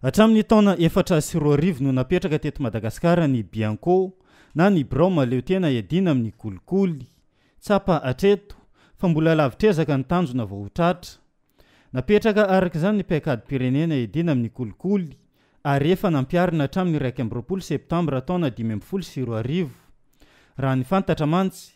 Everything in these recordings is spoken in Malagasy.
Hatramin'ny taona efatra sy roa arivo no napetraka teto Madagasikara ny Bianco na ny Birao Mahaleo Tena Iadiana amin'ny Kolikoly. Tsapa hatreto fa mbola lavitr'ezaka ny tanjona vao ho tratra. Napetraka araka izany ny Paikadim-pirenena Iadiana amin'ny Kolikoly ary efa nampiharina hatramin'ny iraika amby roapolo septambra taona dimy ambin'ny folo sy roa arivo. Raha ny fantatra mantsy,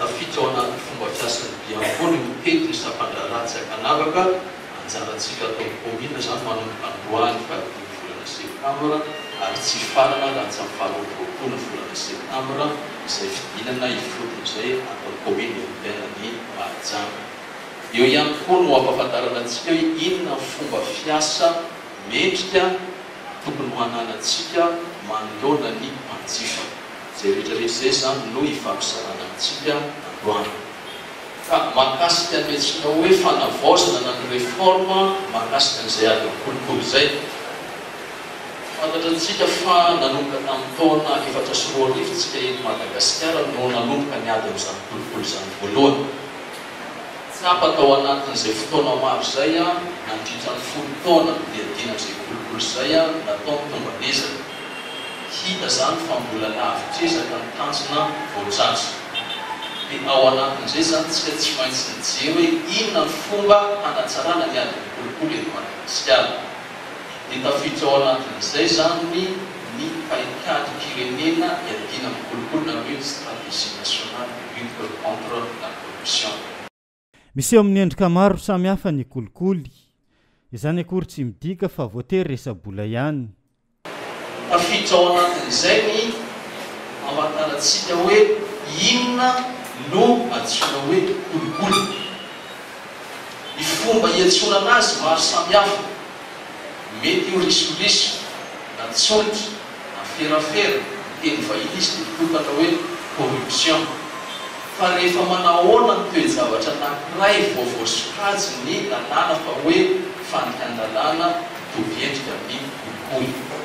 Tafiditra ao anatin'ny fomba fiasan'ny diakona io pety ny sampandraharaha tsy ankanavaka, anjarantsika ato amin'ny kaominina izany manomboka androany fahadimy volana septambra ary tsy hifarana raha tsy amin'ny faharoa amby roapolo ny volana septambra izay fidinana ifotony izay ato amin'ny kaominina urbaine ny Mahajanga. Eo ihany koa no hampahafantarana antsika hoe inona ny fomba fiasa mendrika tokony ho ananantsika manoloana ny mpanjifa. Jeritrereto izay izany no hifampizarana amintsika androany. Fa mahakasika ny antsoinao hoe fanavaozana na ny réforme mahakasika an'izay adin'ny kolikoly izay. Fantatra amintsika fa nanomboka tamin'ny taona efatra sy roa arivo isika eto Madagasikara no nanomboka ny adin'izany kolikoly izany voalohany. Tsapa tao anatin'izay fotoana maro izay nandritra ny folo taona niadiana izay kolikoly izay nataony tomban'ezaka. Hita izany fa mbola lavitra ezaka ny tanjona vao tratra. Dia ao anatin'izay izany tsika tsy maintsy mijery hoe inona ny fomba hanatsarana ny adin'ny kolikoly eto Madagasikara. Dia tafiditra ao anatin'izay izany ny paikadimpirenena iadiana amin'ny kolikoly na hoe ny stratégie nationale de lutte contre la corruption. Miseho amin'ny endrika maro samihafa ny kolikoly. Izany akory tsy midika fa voatery resa-bola ihany. Tafiditra ao anatin'izay ny amantarantsika hoe inona no antsoina hoe kolikoly. Ny fomba iantsonana azy maro samihafa. Mety ho risoriso na tsolika. Aferafera, teny vahiny izy dia mitokatra hoe corruption. Fa rehefa manahoana ny toe-javatra anankiray vao voasokajy ny lalàna fa hoe fandikan-dalàna mitovy endrika amin'ny koikoy?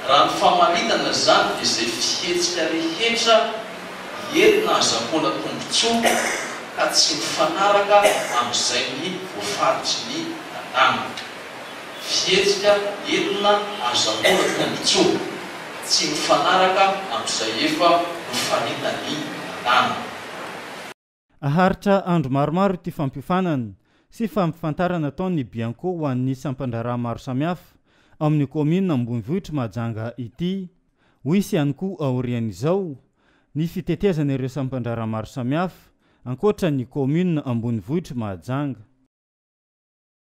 Raha ny famaritana izany dia izay fihetsika rehetra entina hazahoana tombontsoa ka tsy mifanaraka amin'izay ny voafaritry ny lalàna. fihetsika enina azo anoratra ny tsoa tsy mifanaraka amin'izay efa nofaritan'ny nanana. Haharitra andro maromaro ity fampiofanana sy fampifantarana ataon'ny Bianco ho an'ny sampan-draharaha maro samihafa ao amin'ny kaominina ambonivohitr'i Mahajanga ity. Ho hisy ihany koa aorian'izao ny fitetezana ireo sampan-draharaha maro samihafa ankoatra ny kaominina ambonivohitr'i Mahajanga.